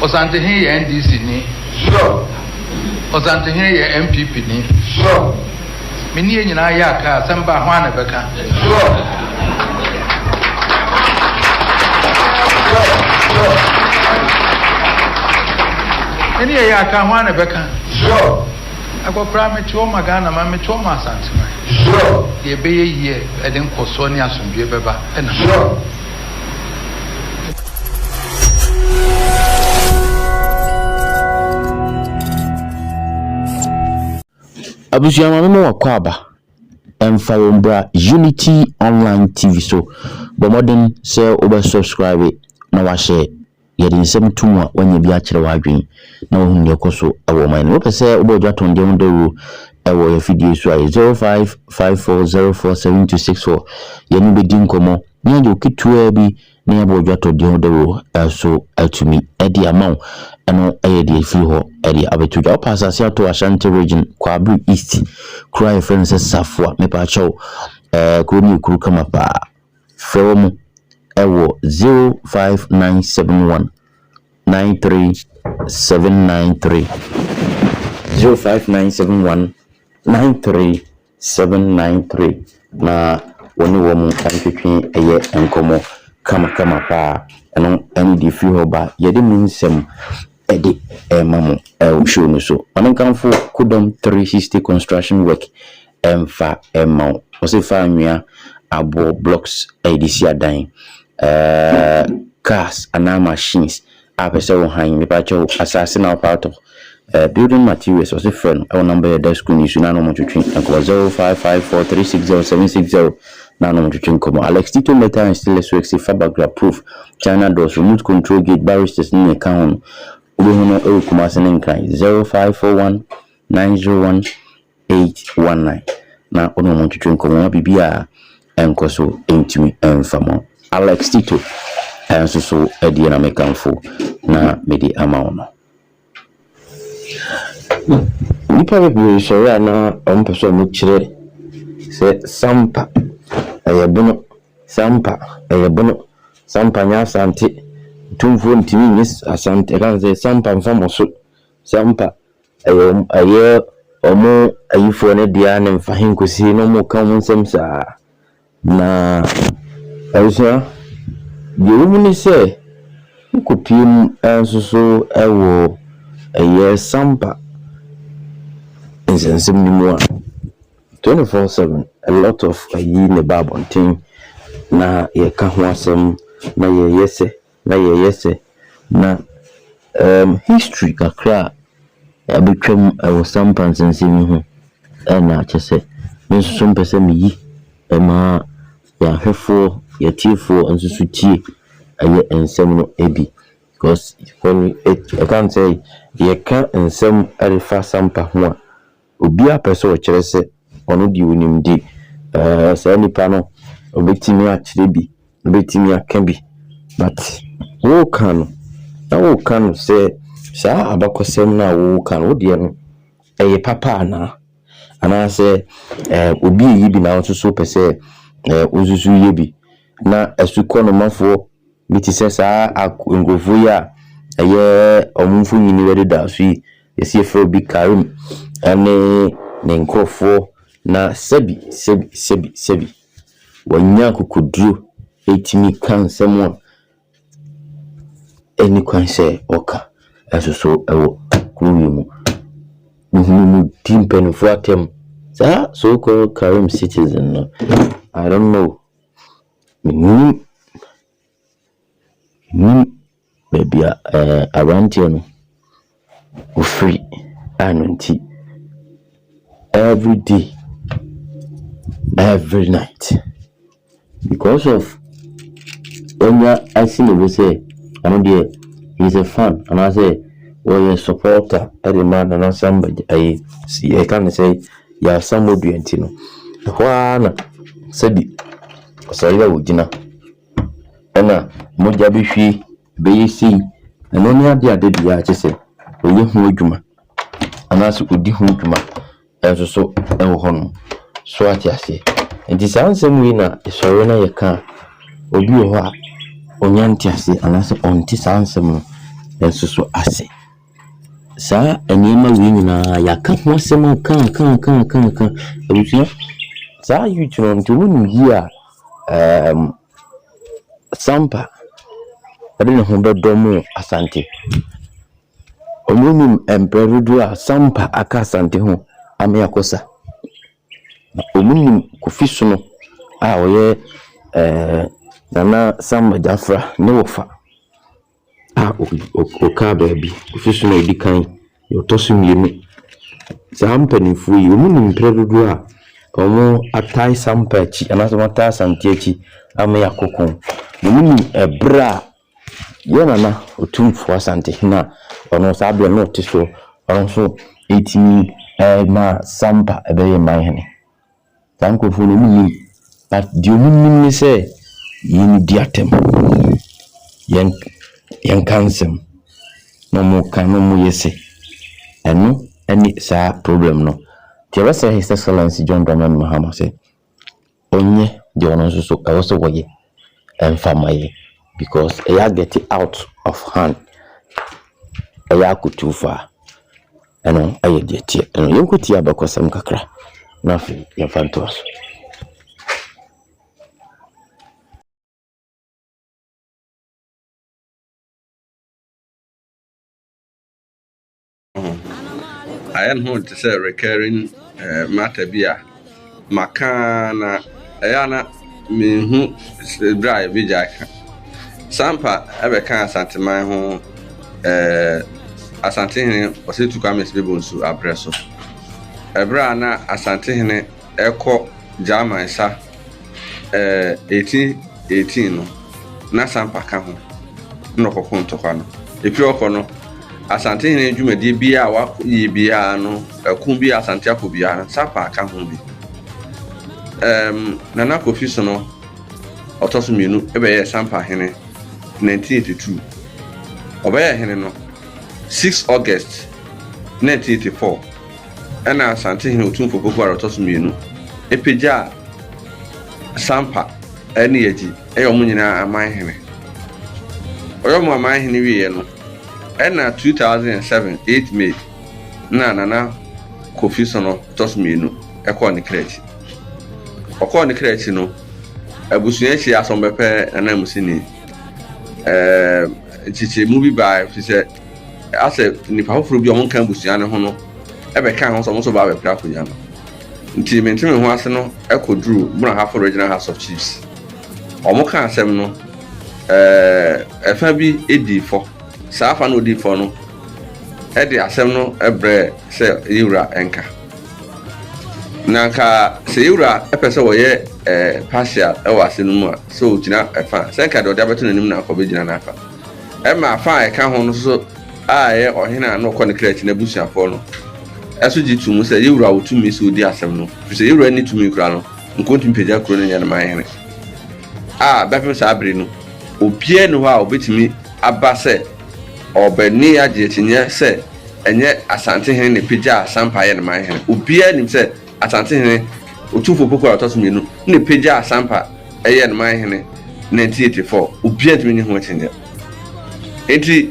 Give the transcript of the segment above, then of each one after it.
Osantehene yɛ NDC ni, sure. Osantehene yɛ NPP ni, sure. Me ne yɛn nyinaa yɛ a kaa asɛm ba a hwan na ɛbɛka, sure, sure, sure. Me ne yɛn yɛ a kaa hwan na ɛbɛka, sure. Akɔkoraa me te ɔma Ghana man me te ɔma Asante man, sure. Deɛ ɛbɛyɛ yie ɛde nkɔsoɔ ne asomdwoeɛ bɛba ɛna, sure. abusua maame ma wakɔ aba ɛmfa wɔn mbra unity online tv so bɔ mmɔden sɛ wobɛ subscribe na wahyɛ Yɛ de nsɛm to mu a woanya bi akyerɛ w'adwene na woahunu nea ɛkɔ so wɔ ɔman no mu. Wopɛ sɛ wobɔ Ɔdwo Atɔndeɛ ho dawuro wɔ yɛn afidie so a, yɛ 0554047264. Yɛne wo bɛdi nkɔmmɔ na yɛagye wo ketewaa bi na yɛabɔ Ɔdwo Atɔndeɛ ho dawuro so atumi de ama wo. Ɛno yɛ deɛ ɛfiri hɔ de abɛto dwa. Wopɛ asase ato Ashanti Region, Kwabere East, kuro a yɛfrɛ no sɛ Safua. Mepaakyɛw, kuro no yɛ kuro kama paa. Frɛ wɔn wɔ 05971 93793, 05971 93793, na wo ne wɔn ntwetwe ɛyɛ nkɔmmɔ kamakama paa. Ɛno ne deɛ ɛfiri hɔ ba. Yɛde mu nsɛm ɛde ɛma mo ɛwɔ show no so. Maame nkamfo Kodɔm 360 Construction Work ɛmfa mma wo. Ɔse fa anwea, aboɔ, blocks de si adan, cars anaa machines a pɛ sɛ wo han, mepakyɛw asaase na wopɛ atɔ. Building materials ɔse frɛ no wɔ number yi a ɛda screen yi so na na wɔtwetwe nkɔmmɔ, 0554360760 na na wɔtwetwe nkɔmmɔ. Alex Tito Metal and Stainless Works fa Bagra Proof, China Doors, Remote Control Gate, Barristers ne nea ɛka ho no, wobɛhu no wɔ Kumasi ne Nkran, 0541901900. eight one nine na wo ne wɔn ntwetwe nkɔmmɔ na biribi a ɛnkɔ so ntumi mfa mo. Alex Tito nso so deɛ na mekamfo na mede ama wo no. Nnipa bebree sɔre a na wɔpɛ sɛ wɔkyerɛ sɛ Sampa ɛyɛ bono, Sampa ɛyɛ bono, Sampa nyɛ Asante, Tumfoɔ ntumi nyɛ Asante, ɛka sɛ Sampa mfa mo so. Sɛ ampa ɛyɛ wɔn ɛyɛ wɔn ayifoɔ no dea ne mfa he nkosi he na wɔka wɔn nsɛm saa. Na abusua, deɛ ɛwɔ mu ne sɛ, wokɔpue mu nso so wɔ ɛyɛ Sampa nsɛnsɛm no mu a, twenty four seven a lot of ayi na ɛba abɔnten na yɛka ho asɛm na yɛyɛ sɛ Na yɛyɛ sɛ na erm history kakra a abɛtwa mu wɔ Sampa nsɛnsɛm yi ho na kyɛ sɛ me nso so mpɛ sɛ me yi ma yɛn ahwɛfoɔ, yɛn atiefoɔ nso so tie ɛyɛ nsɛm no bi. Because when we, it, I can't say, yɛka nsɛm ɛrefa Sampa ho a, Obiara pɛ sɛ ɔkyerɛ sɛ ɔno deɛ ɔnim nti, saa nipa no ɔbɛtumi akyerɛ bi, ɔbɛtumi aka bi. But woreka no, na woreka no sɛ saa abakɔsɛm no a woreka no, wo deɛ no ɛyɛ papa anaa? Anaasɛ obi reyɛ bi na wo nso so wopɛ sɛ wo nso so yɛ bi, na asukɔnomafoɔ Bi te sɛ saa ak nkurɔfoɔ yi a ɛyɛ wɔn mfonini wɔ dedaw so yi, yɛse yɛfrɛ obi Karim ne ne nkurɔfoɔ na sɛbi sɛbi sɛbi sɛbi wɔanya akokoduro atumi ka nsɛm a ɛnni kwan sɛ wɔka nso so wɔ kuro wei mu. Mehunu no di mpanimfoɔ atɛm. Saa so called Karim citizen no, I don't know. Mennim, mennim baabi a ɛɛ aberanteɛ no ɔfiri a ɛno nti everyday, every night because of wanya asi ne bo sɛ ɔno deɛ he is a fan anaasɛ ɔyɛ supporter de ma Nana Sam Badzi ayi si yɛka ne sɛ Yɛasammɔdua nti no, ɛhɔ ara na sɛbi ɔsɔre a ɔgyina ɛna mogya bɛhwie bɛyɛ sei. Ɛno ne adeɛ a da biara kyɛ sɛ ɔyɛ ho adwuma anaasɛ ɔdi ho dwuma nso so wɔ hɔ no. So ate aseɛ? Nti saa nsɛm wei na ɛsɔre na yɛka a, obi wɔ hɔ a ɔnya nteaseɛ anaasɛ ɔnte saa nsɛm no nso so ase. Saa nneɛma wei nyinaa yɛaka ho asɛm aka aka aka aka aka abusua saa youth no nti wɔn nim yie a ɛɛm sampa ɛde ne ho bɛdɔ mo asante wɔn nim mprɛ dodoɔ a sampa aka asante ho ame akɔsa na wɔn nim kofi sono a ɔyɛ ɛɛ nana sampa gyafra ne wɔfa. a ɔkaa baabi, ɔsusu no a ɔdi kan, deɛ ɔtɔ so mmienu. Saa mpanimfoɔ yi, wɔnim mprɛ dodoɔ a wɔatae sampa akyi anaasɛ wɔatae Asante akyi ama yɛakɔ ko. Wɔnim ɛberɛ a yɛn Nana Otumfoɔ Asantehene a ɔno nso saa berɛ no na ɔte soɔ, ɔno nso tumi maa sampa bɛyɛɛ Manhene. Saa nkorɔfoɔ no, ɔmo nnim. But deɛ ɔmo nim ne sɛ, yɛn di atɛm. Yɛn yɛnka nsɛm na ɔmo ka na ɔmo yɛ se. Ɛno ɛne saa problem no. Nti yɛbɛsrɛ His Excellency John Dramani Mahama sɛ, ɔnyɛ deɛ ɔno nso so ɛwɔ sɛ ɔyɛ. ɛmfa ma yɛ because ɛyɛ agɛte out of hand, ɛyɛ akɔtu fa a, ɛno ɛyɛ deɛ ɛteɛ. Ɛno yɛnkɔtie abakɔsɛm kakra na afei yɛmfa ntoa so. ho. Ayɛ ne ho te sɛ recurring matter bi a maka na ɛyɛ a na menhu bere a yɛbɛgyae ka. Sampa bɛka Asanteman ho Asantehene Ɔsatu Kwame Sibebonsu aberɛ so, ɛberɛ a na Asantehene ɛkɔ German sa ɛɛ 1818 no, na Sampa ka ho na ɔkɔko ntɔkwa no. Ɛfiri hɔ kɔ no, Asantehene dwumadie biara a wɔayɛ biara no, ɛko biara a Asante akɔ biara no, Sampa aka ho bi. Ɛɛm, Nana Kofi Sono, ɔtɔ so mmienu, bɛyɛɛ Sampa hene 1982. Ɔbɛyɛɛ hene no 6 August 1984. Ɛnna Asantehene Otumfoɔ Pokuare a ɔtɔ so mmienu pagyaa Sampa ne Yagyi yɛ wɔn nyinaa amanhene. Ɔyɛ wɔn amanhene wieeɛ no, ɛnna 2007 8 May na Nana Kofi Sono ɔtɔ so mmienu kɔɔ ne kra akyi. Ɔkɔɔ ne kra akyi no, abusua akyi asɔmbɛ pɛ ananmusini, ɛɛ, nkyekyɛmu bi baeɛ, ɛfiri sɛ, Asɛ nnipa foforɔ bi a wɔnka abusua no ho no bɛkaa ho sɛ wɔn nso bɛba abɛpere akonnwa no. Nti Mente Me Ho Ase no kɔduruu Munahafo Regional House of Chiefs. Wɔkaa asɛm no, ɛɛ, ɛfa bi dii fɔ. Saa afa no a ɔdii fɔ no de asɛm no brɛɛ sɛ yɛwura nka. Na anka sɛ yɛwura pɛ sɛ wɔyɛ ɛɛ, partial wɔ asɛm no mu a, sɛ ɔgyina ɛfa a, sɛ nka deɛ ɔde abɛto n'anim no anka ɔbɛgyina n'afa. Ɛma afã a ɛka ho no nso a ɛyɛ ɔhene a na ɔkɔ ne kra akyi n'abusuafo no nso gye to mu sɛ, Yɛn wura wɔ tumi sɛ odi asɛm no, efisɛ yɛn wura nni tumi koraa no, nka ontumi mpagya kurow no nyɛ no ma ahene. A Bɛpem saa bere no, obiara nni hɔ a obetumi aba sɛ ɔrebɛnoa agye akyinnye sɛ ɛnyɛ Asante hene na epagyaa Sampa yɛ no ma ahene. Obiara nim sɛ Asantehene Otumfoɔ Opoku a ɔtɔ so mmienu na ɛpagyaa Asampa yɛɛ no man hene 1984. Obiara ntumi nyi ho akyinnyeɛ. Enti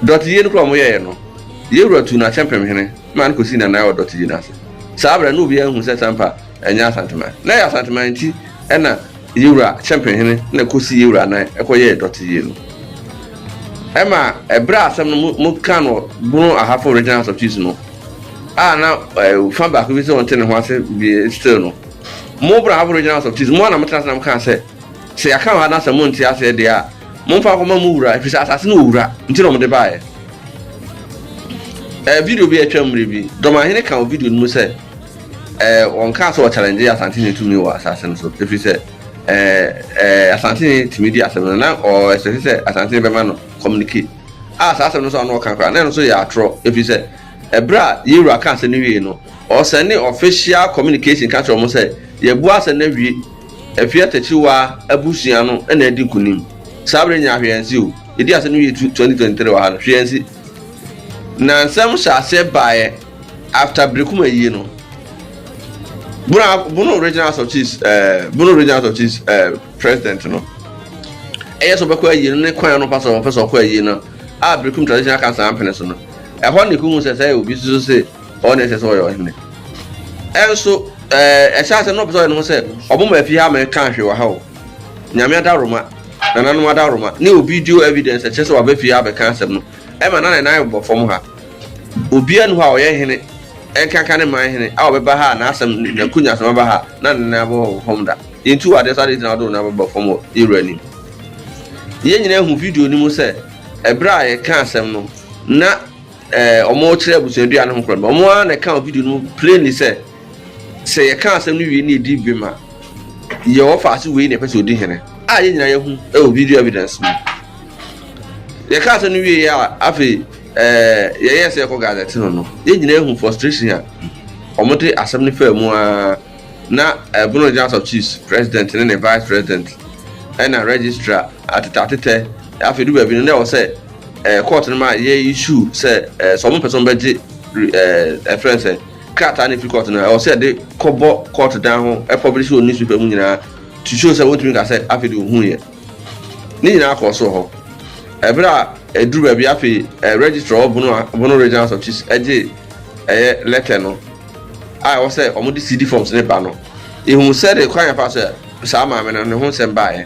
dɔteyie no koraa a wɔyɛeɛ no, Yewura tuu no Akyɛmpem hene maa no kɔsii n'anan wɔ dɔteyie no ase. Saa berɛ no na obiara nhu sɛ Asampa nyɛ Asanteman. Na ɛyɛ Asanteman nti na Yewura Akyɛmpem hene na ɛkɔsii Yewura anan kɔyɛɛ dɔteyie no. Ɛma ɛberɛ a asɛm no mokaa no wɔ Bono Ahafo Regional House of Chiefs no, a na eh, fa baako bi sɛ wɔnte ne ho ase bie still no mo bra aboriginals of tis mo a na motena ase na mokaa sɛ sɛ yɛaka wɔ ha na sɛ monte aseɛ deɛ a momfa akɔma mo wura ɛfiri sɛ asase no ɔwura nti na ɔmde baeɛ eh, video bi atwa mmerɛ bi dɔmahene ka wɔ video no mu sɛ eh, wɔnkaa sɛ wɔchallenge asante ne tumi wɔ asase no so ɛfiri sɛ eh, eh, asante ne tumi di asɛm no na ɔɛsɛse sɛ asante ne bɛma no communicate a saa asɛm no nso a na ɔka koraa na ɛno nso yɛ atorɔ ɛfiri sɛ ɛberɛ a yɛ wura ka asɛm no wie no ɔsɛne official communication ka kyerɛ wɔn sɛ yɛbu asɛm no awie afie atakyiwa abusua no na adi nkonim saa berɛ nyinaa hwee ansi o yɛdi asɛm no wie 2023 wɔ ha no hwee ansi na nsɛm hyɛ aseɛ baeɛ after berekuma yie no Bono, Bono Regional House of Chiefs, uh, Bono Regional House of Chiefs uh, president no ɛyɛ sɛ ɔbɛkɔ ayie no ne kwan ano pa sɛ ɔpɛ sɛ ɔkɔ ayie no a birikum tradition aka saa mpene so no ɛhɔ ne kuhu sɛ sɛ obi susu se ɔwɔ ne ɛsɛ sɛ ɔyɛ ɔhene ɛnso ɛɛ ɛhyɛ asɛm na ɔpɛ sɛ ɔyɛ ne ho sɛ ɔmo ma afi ha ma ɛka ahwe wɔ ha o nyame adaworoma nananom adaworoma ne obi dio evidence ɛkyɛ sɛ waba fie abɛka asɛm no ɛma na ne nan bɔ fam ha obiara nu hɔ a ɔyɛ hene ɛnkanka ne man hene a ɔbɛba ha a n'asɛm n'akunya asɛm aba ha na ne nan bɔ fam da Yentu ade sɛ ade gyina do na ɛbɛba fam wɔ yɛn Wura anim. Yɛn nyinaa hu video no mu sɛ ɛberɛ a yɛka asɛm no na ɛɛ wɔkyerɛ abusuadua no ho korɔ no, wɔn ara na ɛka wɔ video no mu plainly sɛ sɛ yɛka asɛm no wie na yɛdi bem a, yɛ wɔfa ase wei na ɛpɛ sɛ ɔdi hene a yɛn nyinaa yɛhu wɔ video evidence mu. Yɛka asɛm no wie yɛ a afei ɛɛ yɛyɛ sɛ yɛkɔ gazette no no, yɛn nyinaa hu frustration a wɔde asɛm no faa mu ara. Na Bono General of Chiefs president ne ne vice president ɛna registrar atetɛ atetɛ afei du baabi no na ɛwɔ sɛ ɛɛ court no ma yɛ issue sɛ ɛɛ sɛ wɔn pɛ sɛ wɔn bɛgye ɛɛ ɛfrɛ nsɛ krataa na efi court no ɛwɔ sɛ yɛde kɔbɔ court dan ho ɛpublish wɔ newspaper mu nyinaa to show sɛ wɔntumi nka sɛ afei de ohun yɛ ne nyinaa kɔɔ so hɔ ɛbɛrɛ a ɛduru baabi afei ɛɛ registrar wɔ Bono Bono Regional House of Chiefs ɛgye ɛyɛ letter no. a ɛwɔ sɛ wɔde CD forms ne ba no ehu sɛde kwan yɛfa so saa maame no ne ho nsɛm baeɛ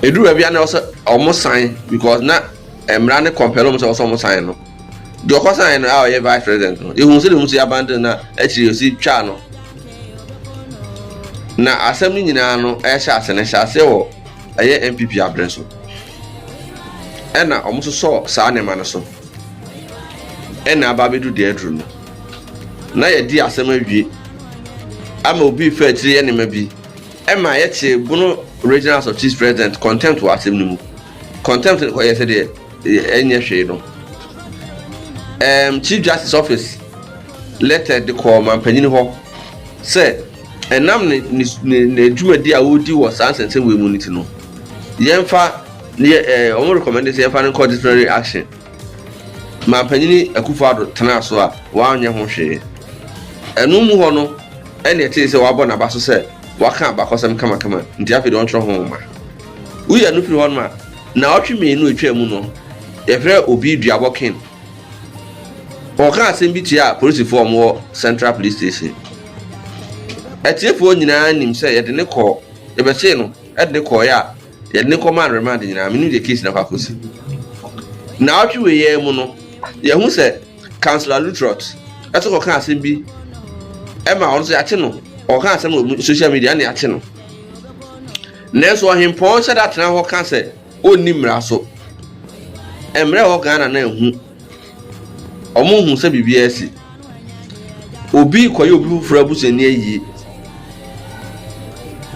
ɛduru baabi a na ɔsɛ ɔmo san because na mmara ne kɔmpɛl ɔmo sɛ ɔsɛ ɔmo san no deɛ ɔkɔ san no a ɔyɛ vice president no ehu sɛde ɔmo si abandon na akyire ɔsi twa no na asɛm no nyinaa no ɛhyɛ ase no hyɛ ase wɔ ɛyɛ npp abere so ɛna ɔmo sosɔ saa nneɛma no so. ɛna aba abɛdu deɛ aduru no na yɛdi asɛm awie ama obi fa akyire yɛ nneɛma bi ɛma yɛte bono regional house of chiefs president contempt wɔ asɛm no mu contempt no kɔyɛ sɛ deɛ ɛnyɛ hwee no um, chief justice office letter de kɔɔ mampanyini hɔ sɛ ɛnam ne ne ne adwumadi a wɔredi wɔ saa nsɛnsɛm wei mu no ti no yɛmfa Yɛ ɛɛ wɔn rekɔmɛnde sɛ yɛmfa no nkɔ disciplinary action. Mampanyini Akufo Addo tenaa so a wanyɛ ho hwee. Ɛno mu hɔ no ɛna ɛtee sɛ wabɔ n'aba so sɛ waka abakɔsɛm kamakama nti afei deɛ ɔntwerɛ ho nwoma. Woyi ɛno firi hɔ nom a, naawɔtwe mmienu a ɛtwaa mu no yɛfrɛɛ obi Duabɔ Ken. Ɔkaa asɛm bi tiaa polisifoɔ a wɔwɔ Central Police Station. Atiefoɔ nyinaa nim sɛ yɛde no kɔɔ, yɛbɛhyee no de no kɔeɛ a, yɛde no kɔmaa no remand nyinaa menim deɛ case no akɔ akɔsi naawɔtwe wei yɛn mu no yɛhu sɛ councilor lutrot ɛso kɔka asɛm bi ɛma ɔno sɛ yɛakye no ɔka asɛm wɔ social media ne yɛakye no nanso ɔhempɔn hyɛ da tena hɔ ka sɛ ɔnni mmara so mmerɛ wɔ ghana na ɛhu Wɔnhu sɛ biribiara asi. Obi rekɔyɛ obi foforɔ abusuani ayie.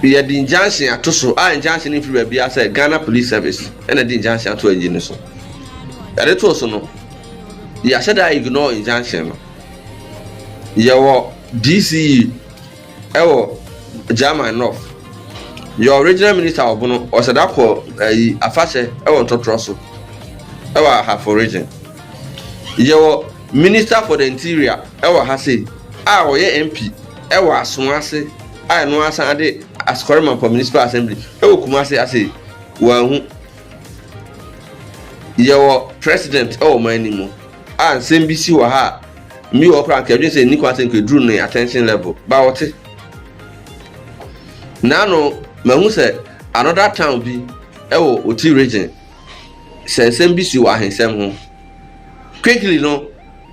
Yɛde injunction ato so a injunction no mfiri baabiara sɛ Ghana Police Service ɛna ɛde injunction ato ayie no so. Yɛde too so no, yɛahyɛ da ignore injunction no. Yɛwɔ DCE. ɛwɔ German North. Yɛ Original Minister wɔ Bono, ɔsɛda kɔ ɛyi afahyɛ ɛwɔ Ntɔtorɔ so ɛwɔ Ahafo Region. Yɛ wɔ Minister for the Interior ɛwɔ ha sei a ɔyɛ MP ɛwɔ Asoa ase a ɛno ara san de Askɔre Mampɔ Municipal Assembly ɛwɔ Kumase ase wɔahu. Yɛ wɔ President ɛwɔ ɔman no mu a nsɛm bi si wɔ ha a. Mbi wɔ hɔ koraa a nka yɛdwen sɛ nni kwan sɛ nka eduru ne attention level, but wɔte. Naano mahu sɛ another town bi wɔ Oti region sɛ nsɛm bi si wɔ ahensɛm ho. Quickly no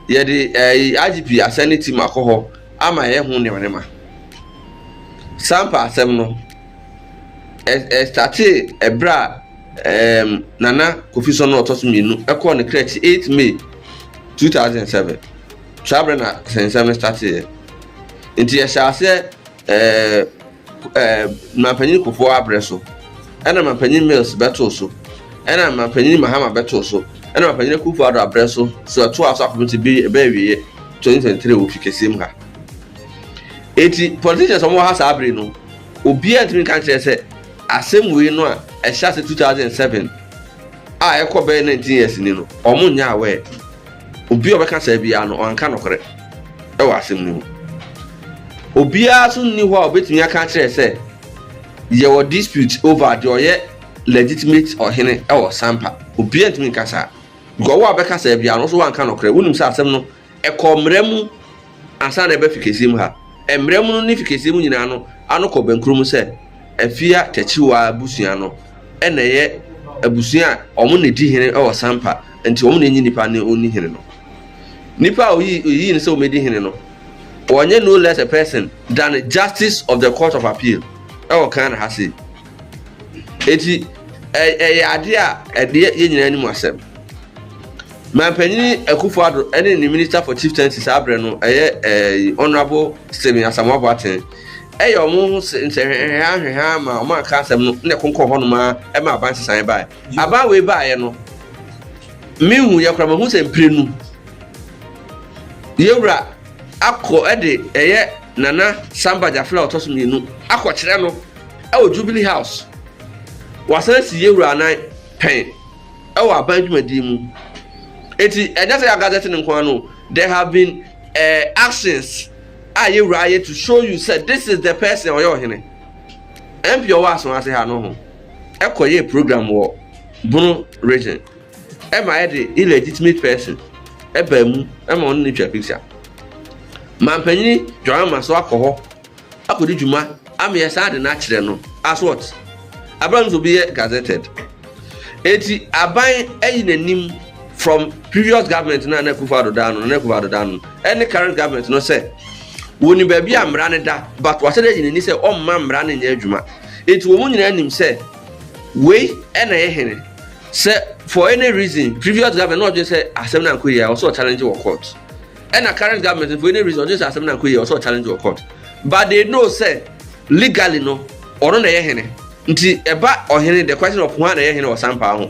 yɛde ɛyi IGP asɛne team akɔ hɔ ama yɛyɛ ho nneɛma nneɛma. Saa mpa asɛm no. ɛ ɛstartee ɛberɛ a ɛɛm Nana Kofi Sɔnɔ a ɔtɔ so mmienu kɔɔ ne kra akyi eight May two thousand and seven saa berɛ na nsɛm no starteeɛ nti yɛhyɛ aseɛ ɛɛ ɛɛ Mampanyin Kufuor aberɛ so ɛna Mampanyin Mills bɛtoo so ɛna Mampanyin Mahama bɛtoo so ɛna Mampanyin Akufo-Addo aberɛ so so ɛtoa so akɔpem sɛ ɛbɛyɛ awieɛ twenty twenty three wɔ Ofi Kɛseɛ mu ha. Enti politicians a wɔwɔ ha saa bere no, obiara ntumi nka nkyerɛ sɛ asɛm wei no a ɛhyɛ ase 2007 a ɛkɔ bɛyɛ 19 years ni no, wɔn nyɛ aware. Obi a ɔbɛka saa biara no, ɔnka nokorɛ wɔ asɛm no mu. Obiara nso nni hɔ a obetumi aka akyerɛ sɛ yɛwɔ dispute over deɛ ɔyɛ legitimate ɔhene wɔ Sampa. Obiara ntumi nka saa. Because wo a wobɛka saa biara no, wo nso woanka nokorɛ. Wonim sɛ asɛm no Ɛkɔ mmara mu ansa na ɛba fikesee mu ha. Mmara mu no ne fikesee mu nyinaa no ano kɔ bɛnkoro mu sɛ Afia Takyiwaa abusua no na ɛyɛ abusua a wɔn na ɛdi hene wɔ Sampa nti wɔn na ɛnyi nipa ne ɔnni hene no. Nipa a ɔyii no sɛ ɔmɛdi hene no ɔnyɛ no less a person than Justice of the Court of Appeal wɔ Ghana ha sei. Ɛti ɛyɛ adeɛ a ɛdeɛ yɛn nyinaa anim asɛm. Manpanin Akuffo Addo ne ne Minister for Chieftaincy saa berɛ no, ɛyɛ ɛɛ Honourable Stephen Asamoah Boateng, ɛyɛ wɔn ho nsɛnhwehwɛhaa nhwehwɛhaa ma wɔn anka asɛm no na ɛkonkɔn hɔnom ara ɛma aban sesaeɛ baeɛ. Aban wei baeɛ no, menhu yɛ koraa, mahu sɛ mprenu yɛwura akɔ ɛde ɛyɛ Nana Samba Gyafela ɔtɔ so mmienu akɔkyerɛ no ɛwɔ Jubilee House, wɔasan asi yɛwura anan pɛn. wɔ aban dwumadi mu. Enti ɛnyɛ sɛ yɛn gadget no nko ara no, there have been eh, actions a yɛn wura ayɛ to show you sɛ this is the person ɔyɛ ɔhene. MP ɔwɔ aso ase ha no ho ɛkɔ yɛ program wɔ Bono region ɛma yɛde illegitimate person ɛbaa mu ɛma ɔne ne twa picture. Mampanyini Dwamama so akɔ hɔ. akɔdi dwuma ama yɛ saa ade no akyerɛ no as what? Aban nso bi yɛ gazetted. Eti aban ayi n'anim from previous government no a na Akufo Addo da no, na Akufo Addo da no, ɛne current government no sɛ wɔnim baabi a mmara no da but wɔahyɛ dɛ ayi n'ani sɛ ɔmma mmara no nyɛ adwuma. Eti wɔn nyinaa nim sɛ wei ɛna yɛ hene sɛ for any reason previous government na ɔdwen sɛ asɛm no ankɔ yie a ɔsɛ ɔchallenge wɔ court. ɛna current government for any reason ɔgye sɛ asɛm na nkɔ yie ɔsɛ challenge wɔ court but they know sɛ legally no ɔno na ɛyɛ hene nti ɛba ɔhene the question of hwan na ɛyɛ hene wɔ sampa ho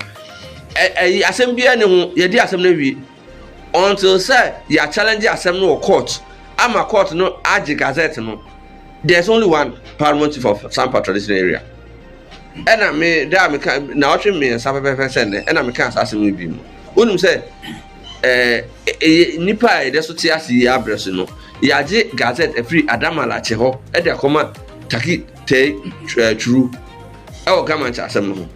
ɛyi asɛm biara ne ho yɛdi asɛm no awie until sɛ yɛ challenge asɛm no wɔ court ama court no agye gazette no there's only one paramount chief of sampa traditional area ɛna me da a meka na ɔtwe mmiɛnsa pɛpɛpɛ sɛ nnɛ ɛna meka saa asɛm no bi mu wonim sɛ Ɛɛ, nnipa a yɛda so te ase yi ara berɛ so no, yɛagye Gazette afiri Adam Malakye hɔ de akɔma Taki Tey Twiru wɔ Gamankyɛ asɛm no ho.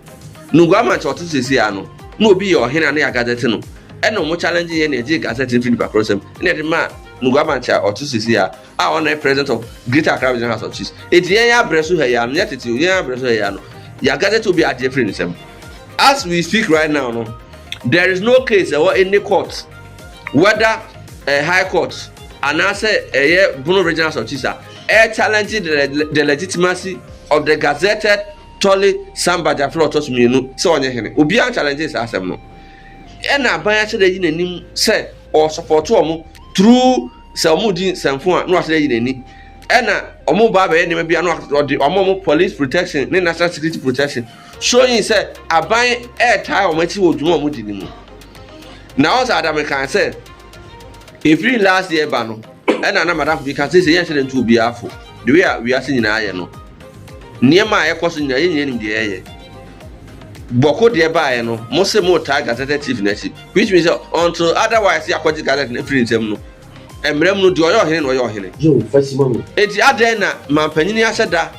No Guamankyɛ ɔte seesei ara no, na obi yɛ ɔhene a ne yɛ Agazɛte no, ɛna wɔn challenge yɛn na yɛgyee Gazette no firi nnipa korɔ nsam na yɛde maa No Guamankyɛ a ɔte seesei ara a ɔno yɛ president of greater accra regional house of chiefs eti yɛn abrɛ so ha yi ano yɛ tete yɛn abrɛ so ha yi ano yagazɛte obi adi efiri ne nsam as we speak right now no there is no case ɛwɔ any court whether uh, high court anaasɛ ɛyɛ eh, bono regional house of chiefs a ɛyɛ challenge the, the legitimacy of the gazetted tɔle samba jafra ɔtɔ so mmienu sɛ ɔnyɛ hene obiara challenge saa asɛm no ɛna aban ahyɛ dɛ yi n'anim sɛ ɔsɔpɔtɔ ɔmo through. sɛ wɔn di nsɛmfo a na wasɛ ayi n'ani ɛna wɔn ba abɛyɛ nneɛma bi a na ɔde wɔn a wɔn police protection ne national security protection showing sɛ aban ɛɛtaa wɔn akyi wɔ dwuma a wɔn di ne mu na ɔsɛ adame kan sɛ efiri last year ba no ɛna na madam bi ka sɛ sɛ yɛn hyɛ ne ntu obi afo the way a wiase nyinaa yɛ no nneɛma a ɛkɔ so nyinaa yɛn nyinaa nim deɛ ɛyɛ. bɔko deɛ baeɛ no mo se mo taa gazetted chief no akyi which means sɛ until otherwise yɛ akɔgye gazette no afiri nsɛm no mmerɛ mu no deɛ ɔyɛ ɔhene na ɔyɛ ɔhene yɛwo fa si ma me enti adɛn na mampanyini ahyɛ da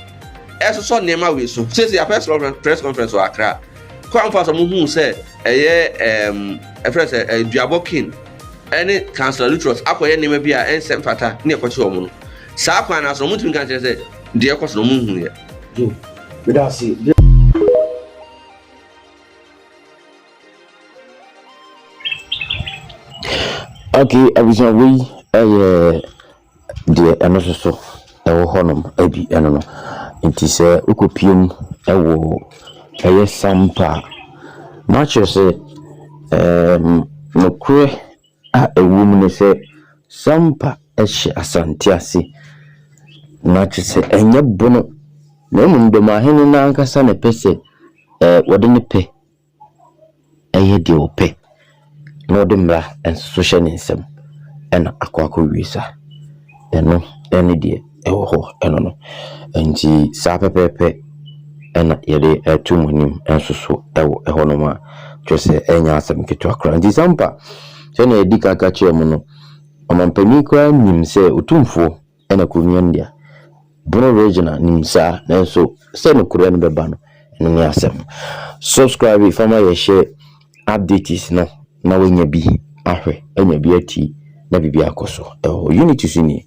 ɛsosɔ nneɛma wei so sese apɛ sɛ press conference wɔ akra kwan fa sɛ mo hu sɛ ɛyɛ ɛɛm ɛfrɛ sɛ ɛduabɔ kin ɛne councilor lutrus akɔyɛ nneɛma bi a ɛnsɛ mfata ne ɛkɔkye wɔn no saa kwan no aso no mo ntumi nka nkyerɛ sɛ deɛ ɛkɔ so no mo nhu yɛ Hmm. Meda ase. ok abusuafo yi yɛ deɛ ɛno soso ɛwɔ hɔnom ɛbi ɛno no nti sɛ wokɔpiem ɛwɔ ɛyɛ sampa matches ɛɛm nokorɛ. a ɛwom ne sɛ Sampa hyɛ Asante ase, na kyerɛ sɛ ɛnyɛ bono, na mmom Dɔmahene no ankasa na ɛpɛ sɛ wɔde ne pɛ yɛ deɛ ɔpɛ, na ɔde mmara nso so hyɛ ne nsam, ɛna akɔ akɔwie saa. Ɛno ne deɛ. ɛwɔ hɔ no no. Nti saa pɛpɛɛpɛ na yɛde reto mo anim nso so wɔ ɛhɔnom a kyerɛ sɛ ɛnyɛ asɛm ketewa koraa. Nti Sampa, sɛnea yɛdi kan ka kyerɛɛ mo no, ɔmampanin koraa nim sɛ Otumfoɔ na kuro no yɛ ne dea. Bono Regional nim saa, nanso sɛ nokorɛ no bɛba no, ɛno ne asɛm. Subscribe fa ma yɛhyɛ updates no na woanya bi ahwɛ, anya bi ati na biribi akɔ so wɔ hɔ. Unit so nie.